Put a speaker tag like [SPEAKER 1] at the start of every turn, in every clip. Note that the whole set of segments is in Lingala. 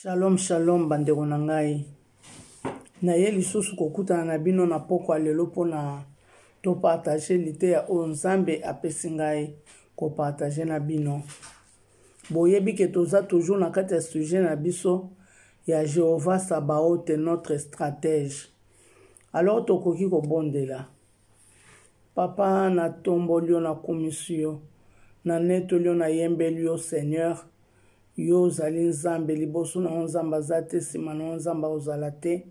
[SPEAKER 1] shalom shalom bandeko na ngai naye lisusu kokutana na bino na pokwa lelo mpo na topartage liteya oyo nzambe apesi ngai kopartage na bino boyebi ke toza toujours na kati ya sujet na biso ya jehovah sabaote notre stratège alors tokoki kobondela Papa, natomboli yo, nakumisi yo, nanetoli yo, nayembeli yo, Seigneur. Yo ozali Nzambe, liboso na yo Nzambe aza te, nsima na yo Nzambe akozala te.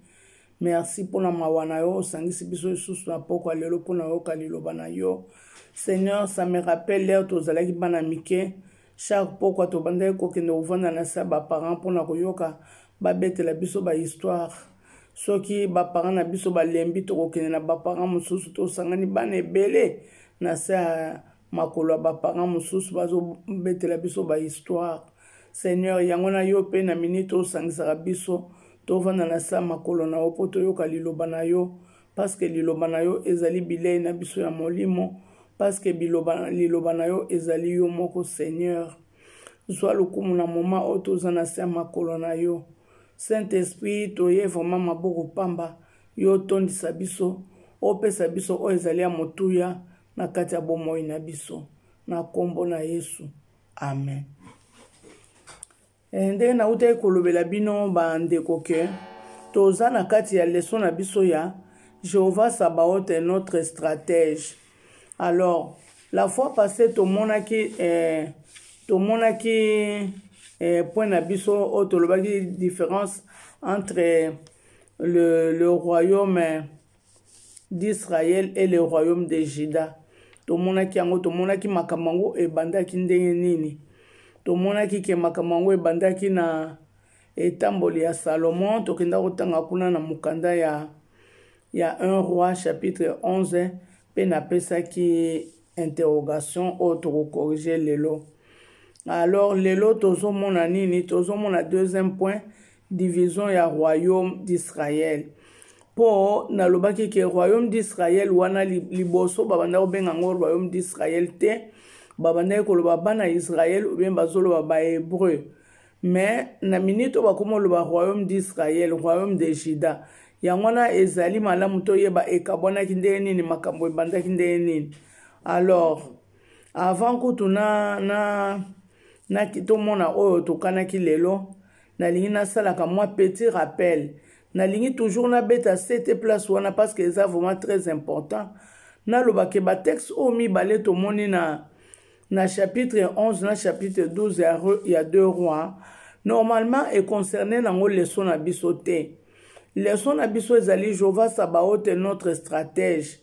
[SPEAKER 1] Merci mpo na mawa na yo, osangisi biso lisusu na pokwa lelo mpo na oyoka liloba na yo. Seigneur, ça me rappelle l'heure tozalaki bana mike, chaque pokwa tobandaki kokende kovanda na se ya baparent mpo na koyoka babetela biso bahistoire soki baparent na biso balembi tokokende na baparent mosusu tosangani bana ebele na se ya makolo ya baparent mosusu bazobetela biso bahistoire seigneur yango na yo mpe na minite osangisaka biso tovanda na se ya makolo na yo mpo toyoka liloba na yo paske liloba na yo ezali bilei na biso ya molimo paske liloba na yo ezali yo moko seigneur zwa lokumu na moma oyo toza na se ya makolo na yo saint esprit toye vraiment maboko pamba yo otondisa biso opesa biso oyo ezali ya motuya na kati ya bomoi na biso na nkombo na yesu amen eh, ndenge nautaki kolobela bino bandeko ke toza na kati ya leso na biso ya jehovah sabaote notre stratège alors la fois passé tomonaki eh, tomonaki eh, point na biso oyo tolobaki différence entre le, le royaume d'israël et le royaume de juda tomonaki yango tomonaki makambo yango ebandaki ndenge nini tomonaki ke makambo yango ebandaki na etamboli ya salomon tokenda kotanga kuna na mokanda ya, ya 1 roi chapitre 11 mpe napesaki interrogation oyo tokokorige lelo alors lelo tozomona nini tozomona deuxième point division ya royaume d'israël mpo nalobaki ke royaume d'israël wana liboso babanda kobenga yango royaume d'israël te babandaki koloba bana israël obien bazoloba bahébreu mais na minute oyo bakoma oloba royaume d'israël royaume de juda yango wana ezali malamu toyeba ekabwanaki ndenge nini makambo ebandaki ndenge nini alors avant kutu na, na, na tomona oyo tokanaki lelo nalingi nasalaka mwa petit rappel nalingi toujours nabeta ct place wana parce que eza vraiment très important nalobake batexte oyo mibale tomoni na na chapitre 11 na chapitre 12 ya, ya deux rois normalement econcerne nango leso na biso te leso na biso ezali jehova sabaote notre stratège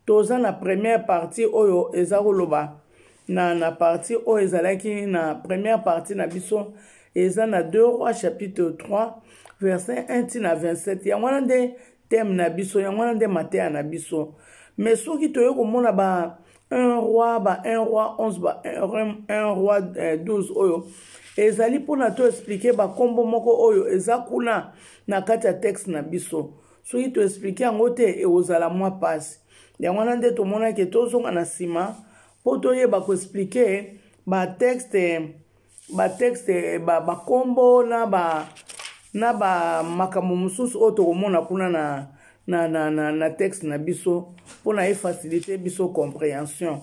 [SPEAKER 1] toza na première partie oyo eza koloba na, na partie oyo ezalaki na première partie na biso eza na 2 roi chapitre 3 verset 1 ti na 27 yango wana nde teme na biso yango wana nde mateya na biso mais soki toye komona ba un roi ba un roi 11 ba un roi 12 euh, oyo ezali mpona to explike bakombo moko oyo eza kuna na kati ya texte na biso soki toexplike yango te ekozala mwa mpasi yango wana nde tomonaki tozonga na nsima mpo toyeba koexplike batexte batexte bakombo ba na ba na bamakambo mosusu oyo tokomona kuna na, na, na, na, na texte na biso mpo na efacilite biso comprehension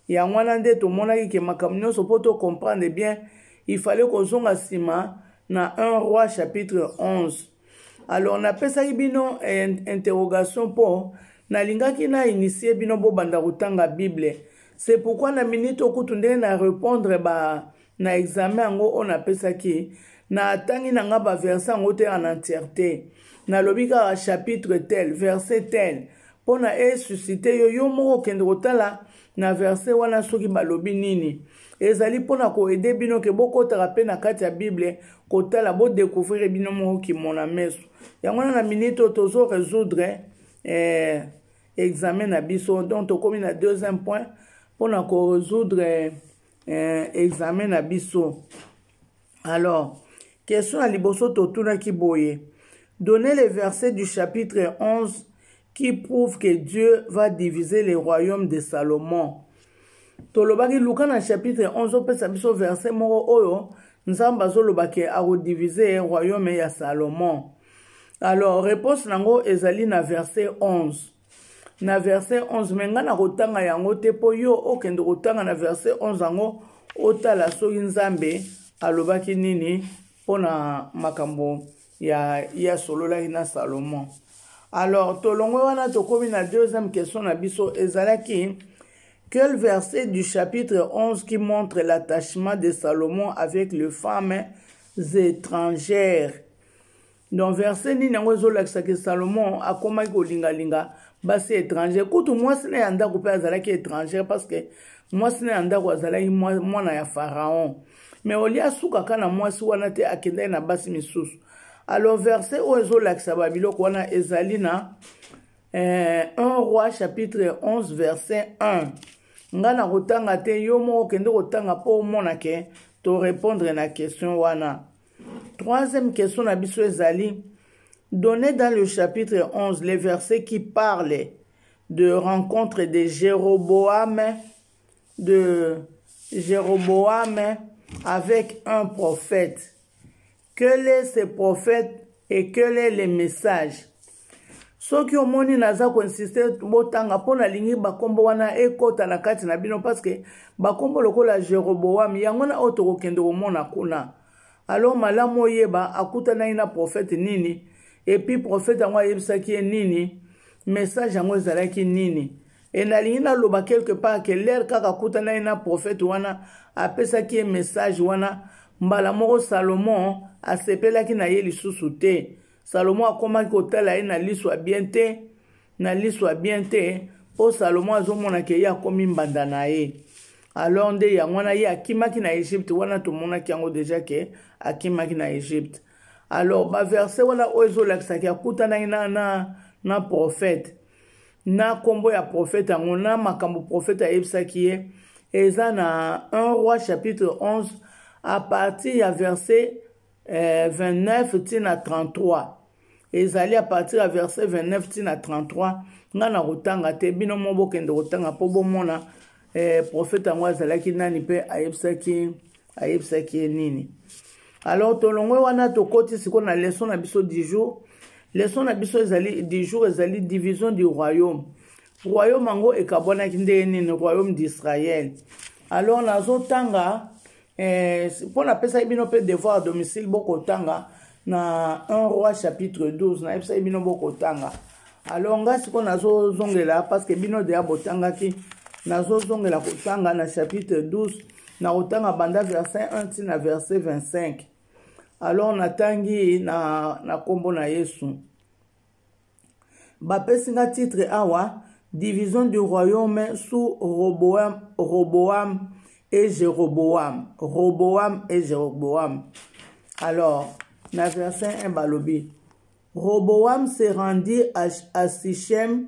[SPEAKER 1] yango wana nde tomonaki ke makambo nyonso mpo tocomprendre bien ifale kozonga nsima na 1 roi chapitre 11 alors napesaki bino eh, interrogation mpo nalingaki na initie bino bobanda kotanga bible c'est pourquoi na minute okutu ndenge na répondre ba na examen yango oyo napesaki natangi na ngai baverse yango te en entièreté nalobi kaka chapitre tel verset tel mpo na esusite yo yo moko okende kotala na verse wana soki balobi nini ezali mpo na koede bino ke bokotaka mpe na kati ya bible kotala bodekouvrir bino moko kimona meso yango wana na minute oyo tozo resoudre eh, examen na biso donc tokomi na deuxième point mpo na koresoudre eh, eh, examen na biso alors question ya liboso totunaki boye donner les versets du chapitre 11 qui prouve que Dieu va diviser le royaume de Salomon. Tolobaki Luka na chapitre 11 opesa biso verset moko oyo Nzambe azoloba ke akodiviser royaume ya Salomon. Alors réponse nango ezali na verset 11. Na verset 11 me ngai nakotanga yango te mpo yo okende kotanga na verset 11 yango otala soki Nzambe alobaki nini mpo na makambo ya ye asololaki na salomon alors tolongwe wana tokomi na deuxième question na biso ezalaki quel verset du chapitre 11 qui montre l'attachement de salomon avec les femmes étrangères donc verset nini yango ezolakisa ke salomon akomaki kolingalinga basi étranger kutu mwasi na ya ndako mpe azalaki étranger parce que mwasi na ya ndako azalaki mwana ya pharaon mais olie asukaka na mwasi wana te akendaki na basi misusu alors verset oyo ezolakisa babiloko wana ezali na eh, 1 roi chapitre 11 verset 1 nga nakotanga te yo moko okende kotanga mpo omona ke torepondre na question wana troisième question na biso ezali donné dans le chapitre 11 les versets qui parlent de rencontre de jéroboam de Jéroboam avec un prophète. Quel est ce prophète et quel est le message soki omoni naza koinsiste botanga mpo nalingi bakombo wana ekota na kati na bino parceke bakombo lokola jeroboam yango wana oyo tokokende komona kuna alors malamu oyeba akutanaki na profete nini epuis profete yango ayebisaki ye nini message yango ezalaki nini e nalingi naloba quelque part ke lere kaka akutana ye na profete wana apesaki ye message wana mbala moko salomon asepelaki na ye lisusu te salomon akomaki kotala ye na liso ya bien te na liso ya bien te mpo salomon azomona ke ye akomi mbanda na ye alors nde yango wana ye akimaki na egypte wana tomonaki yango deja ke akimaki na egypte alors baverse wana oyo ezolakisaki akutanaki na, na, na profete na nkombo ya profeta yango na makambo profeta ayebisaki ye eza na 1 roi chapitre 11 à partir ya verset eh, 29 ntina 33 ezali à partir ya verset 29 ntina 33 ngai nakotanga te bino mo bokende kotanga mpo bomona eh, profeta yango azalaki nani mpe ayebisaki ayebisaki ye nini alors tolongwe wana tokoti sikoyo na leson na biso du jour leson na biso ezali du jour ezali division du royaume royaume yango ekabwanaki ndenge nini royaume d'israël alors nazotanga eh, mpo napesaki bino mpe devoir à domicile bokotanga na 1 roi chapitre 12 nayebisaki bino bokotanga alors ngai sikoyo nazozongela parce que bino deya botangaki nazozongela kotanga na chapitre 12 na kotanga banda verset 1 ti na verset 25 alors natangi na nkombo na yesu bapesi nga titre awa division du royaume sous roboam roboam et jeroboam roboam et jeroboam alors na verset 1 balobi roboam se rendit à, à sichem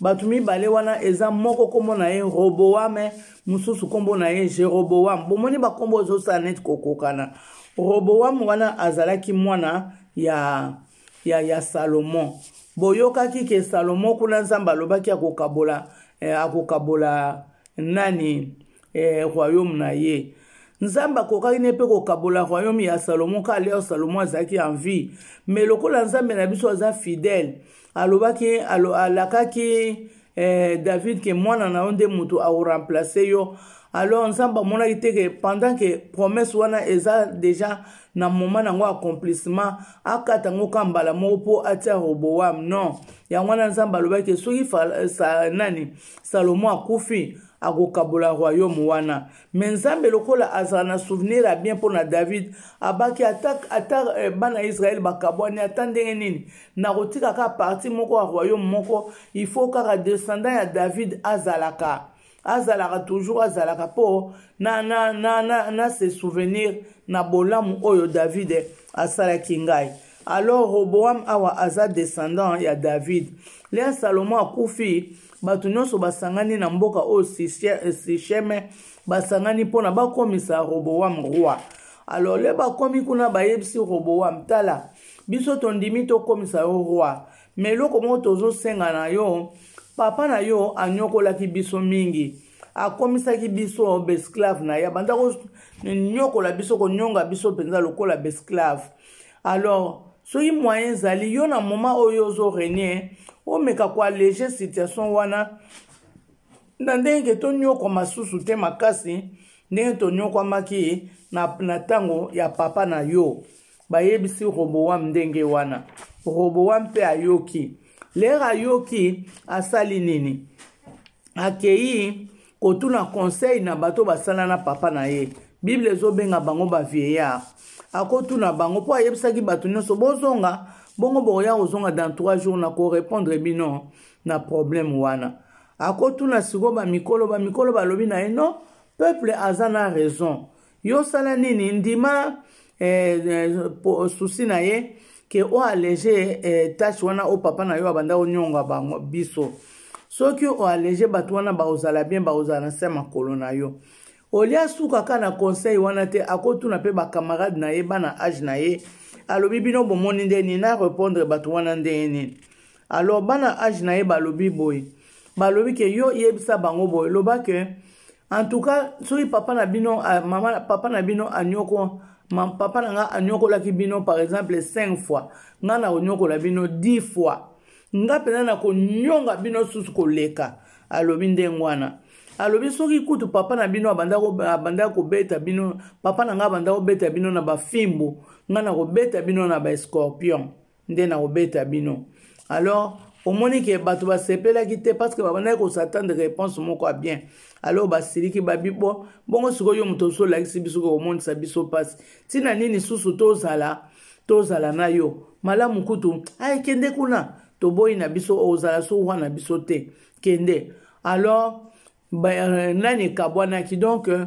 [SPEAKER 1] bato mibale wana eza moko nkombo na ye roboame mosusu nkombo na ye jeroboame bomoni bankombo ozosala neti kokokana roboame wana azalaki mwana ya, ya, ya salomo boyokaki ke salomo kuna nzambe alobaki akokabola eh, akokabola nani eh, royaume na ye nzambe akokaki ne mpe kokabola royaume ya salomo ka leo salomo azalaki en vie me lokola nzambe na biso aza fidèle alobaki alo, alakaki eh, david ke mwana na yo nde moto aoremplace yo alors nzambe amonaki te ke pendant ke promesse wana eza déjà na moment na yango accomplissement akata yango ka mbala moko mpo atia roboam non yango wana nzambe alobaki ke soki sa, nani salomo akufi akokabola royaume wana me nzambe lokola azala na souvenir ya bien mpo na david abaki ata, ata eh, bana israele bakabwani ata ndenge nini nakotika kaka parti moko ya royaume moko il faut kaka descendant ya david azalaka azalaka toujours azalaka mpo na, na, na, na, na se souvenir na bolamu oyo david asalaki ngai alors roboam awa aza descendant ya david lea salomo akufi bato nyonso basangani na mboka oyo sisheme basangani mpo na bakomisa roboam roi alors le bakomi kuna bayebisi roboam tala biso tondimi tokomisa yo roi me eloko moko tozosenga na yo papa na yo anyokolaki biso mingi akomisaki biso besclave na ye abanda konyokola biso konyonga biso mpenza lokola besclave alors soki moyen ezali yo na moma oyo ozo renie omeka koallege situation wana na ndenge tonyokwa masusu te makasi ndenge tonyokwamaki na ntango ya papa na yo bayebisi roboam ndenge wana roboam mpe ayoki lere ayoki asali nini akei kotuna conseil na bato basala na papa na ye bible ezobenga bango bavieillard akotuna bango mpo ayebisaki bato nyonso bozonga bongo bokoya kozonga dans 3 jours na korepondre bino na problème wana akotuna sikoyo bamikolo bamikolo balobi na ye non peuple aza na raison yo osala nini ndima eh, eh, susi na ye ke oallege eh, tache wana oyo papa na yo abanda onyonga bango biso soki oallege bato wana bakozala bien bakozala na se makolo na yo olie asuka kaka na conseil wana te akotuna mpe bacamarade na ye bana age na ye alobi bino bomoni nde nini na repondre bato wana ndenge nini alors bana age na ye balobi boye balobi ke yo yebisa bango boye loba ke en tout cas soki papa na bino ah, mama papa na bino anyoko papa na nga anyokolaki bino par exemple 5 fois nga na konyokola bino 10 fois nga mpenza na konyonga bino susu koleka alobi ndenge wana alobi soki kutu papa na bino abanda kobeta bino papa na nga abanda kobeta bino na bafimbu nga na kobeta bino na baescorpion nde nakobeta bino alors omoni ke bato basepelaki te parce que babandaki kosatande réponse moko ya bien alors basiliki babi bo bongo sikoyo moto mosusu olakisi biso komonisa biso mpasi ntina nini susu tozala tozala na yo malamu kutu aye kende kuna toboyi na biso ozala so wana biso te kende alors ba, euh, nani ekabwanaki donc euh,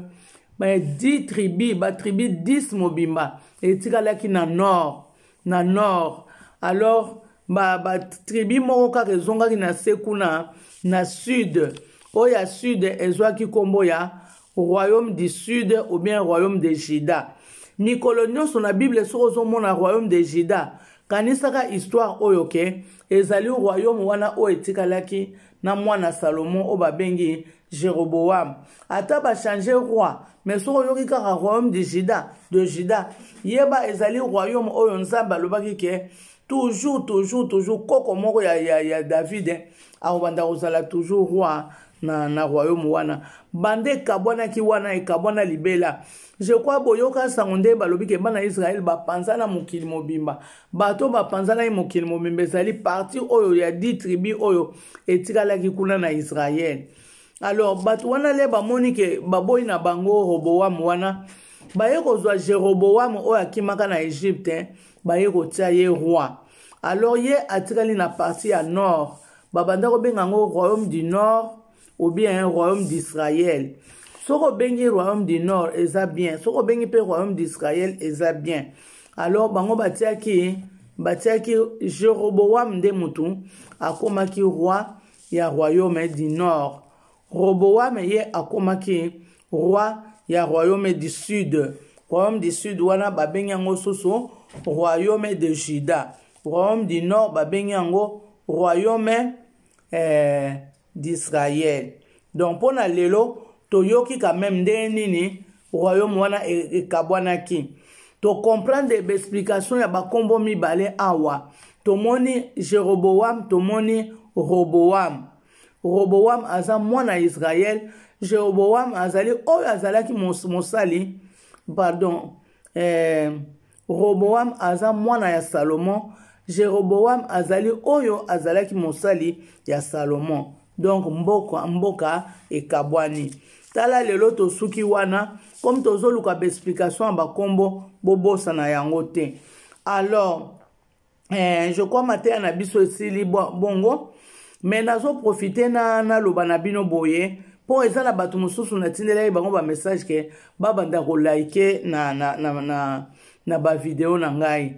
[SPEAKER 1] ba 10 tribu ba tribu 10 mobimba etikalaki na nord na nord alors batribi ba moko kaka ezongaki na se kuna na sud oyo ya sud ezwaki nkombo ya royaume du sud ou bien royaume de juda mikolo nyonso na bible soki ozomona royaume de juda kanisaka histoire oyo ke ezali royaume wana oyo etikalaki na mwana salomon oyo babengi jeroboam ata bachange roi mais soki oyoki kaka royaume de juda de juda yeba ezali royaume oyo nzambe alobaki ke toujours toujours toujours koko moko ya, ya, ya david eh, akobanda kozala toujours roi na, na royaume wana banda ekabwanaki wana ekabwana libela je crois boyoka nsango ndenge balobi ke bana israele bapanzana mokili mobimba bato oyo bapanzanaki mokili mobimba ezali parti oyo ya di tribu oyo etikalaki kuna na israele alors bato wana le bamoni ke baboyi na bango roboam wana baye kozwa jeroboam oyo akimaka na egypte baye kotia ye roi alors ye atikali na parti ya nord babanda kobenga yango royaume du nord ou bien royaume d'israël soki obengi royaume du nord eza bien soki obengi mpe royaume d'israël eza bien alors bango batiaki batiaki jeroboam nde motu akomaki roi ya royaume du nord roboam ye akomaki roi ya royaume du sud royaume du sud wana babengi yango susu royaume de juda royaume du nord babengi yango royaume eh, d'israel donc mpo na lelo toyoki quand même ndenge nini royaume wana ekabwanaki e tocomprendre baexplication ya bakombo mibale awa tomoni jeroboam tomoni roboam roboam aza mwana ya israel jeroboam azali oyo azalaki mos, mosali pardon eh, roboam aza mwana ya salomon jeroboam azali oyo azalaki mosali ya salomon donc mboka, mboka ekabwani tala lelo tosuki wana comme tozoluka baexplication ya bakombo bobosana yango te alors eh, je crois mateya na biso esili bongo me nazoprofite na naloba na bino boye mpo eza na bato mosusu natindelaki bango bamessage ke babanda kolike na, na, na, na, na bavideo na ngai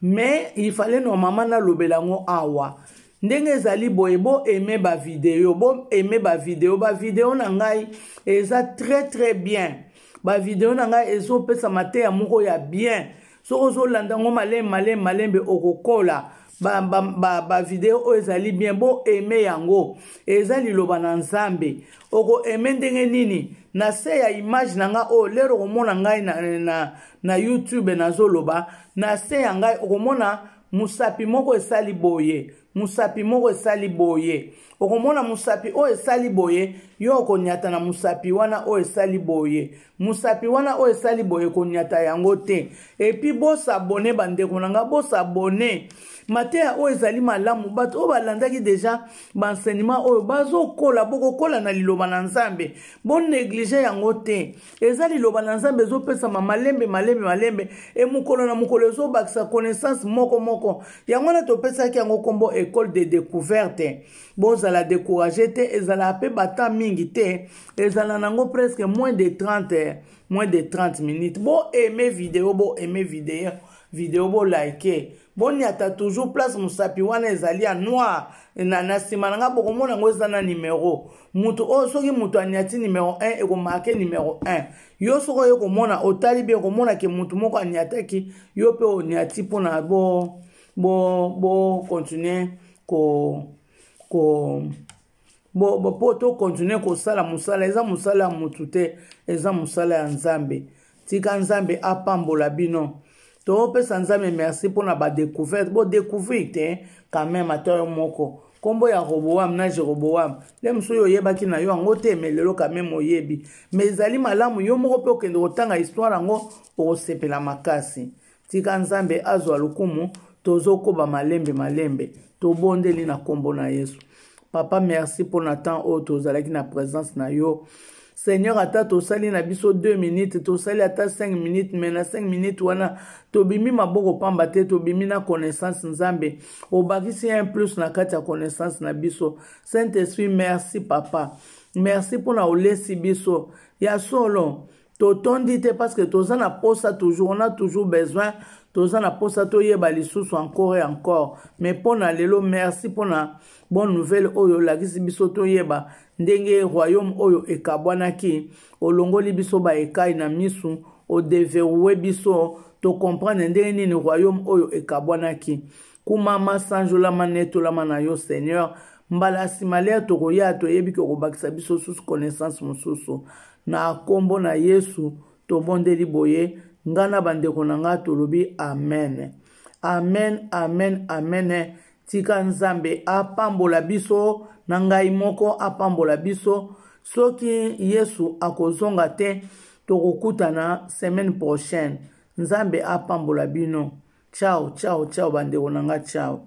[SPEAKER 1] me ifale normalement nalobela yango awa ndenge ezali boye boaime bavideo boaime bavideo bavideo na ngai eza très très bien bavideo na ngai ezopesa mateya moko ya bien soki ozolanda yango malembe malembe malembe okokola bavideo oyo ezali bien bo aime yango eza liloba na nzambe oko aime ndenge nini na se ya image na ngai oyo lero okomona ngai na, na, na youtube nazoloba na se ya ngai okomona mosapi moko esali boye mosapi moko esali boye okomona mosapi oyo esali boye yo okonyata na mosapi wana oyo esali boye mosapi wana oyo esali boye konyata yango te epi bosabone bandeko na ngai bosabone mateya oyo ezali malamu bato oyo balandaki deja baenseignement oyo bazokola bokokola na liloba na nzambe boneglige yango te eza liloba na nzambe ezopesama malembe malembe malembe e mokolo na mokolo ezobakisa connaissance moko moko yango wana topesaki yango nkombo ecole de découverte bozala décourage te ezalaka mpe bata mingi te ezala nango presque moins de 30 moins de 30 minutes bo aime video bo aime video video bo like boniata toujours place mosapi wana ezali ya noir na nsima na ngai bokomona yango eza na numero moto oyo soki moto aniati numero 1 ekomarke numero 1 yo soki oye komona otali bien okomona ke moto moko aniataki yo mpe oniati mpona bo bo bo continuer ko ko bo bo po to continuer kosala mosala eza mosala ya motu te eza mosala ya nzambe tika nzambe apambola bino topesa nzambe merci mpo na badecouverte bodecouvrir te quand même ata yo moko nkombo ya roboam na jeroboam nde mosusu oyo oyebaki na yo yango te me lelo kameme oyebi me ezali malamu yo moko mpe okende kotanga histware yango okosepela makasi tika nzambe azwa lokumu tozokoba malembe malembe tobondeli na nkombo na yesu papa merci mpo na temps oyo tozalaki na présence na yo seigneur ata tosali na biso 2 minutes tosali ata 5 minutes mai na 5 minutes wana tobimi maboko pamba te tobimi na connaissance nzambe obakisi un plus na kati ya connaissance na biso saint esprit merci papa merci mpo na olesi biso ya solo totondi te parce que toza na posa toujours on a toujours besoin toza na posa toyeba lisusu encore et encore mais mpo na lelo merci mpo na bonne nouvelle oyo olakisi biso toyeba ndenge royaume oyo ekabwanaki olongoli biso baekai na misu odeveroue biso tocomprendre ndenge nini royaume oyo ekabwanaki kumama sanjolama netolama na yo seigneur mbala nsima lia tokoya toyebi ke okobakisa biso susu connaissance mosusu na nkombo na yesu tobondeli boye ngai na bandeko na ngai tolobi amen amen amen amen tika nzambe apambola biso na ngai moko apambola biso soki yesu akozonga te tokokutana semaine prochaine nzambe apambola bino ciao ciao ciao bandeko na nga ciao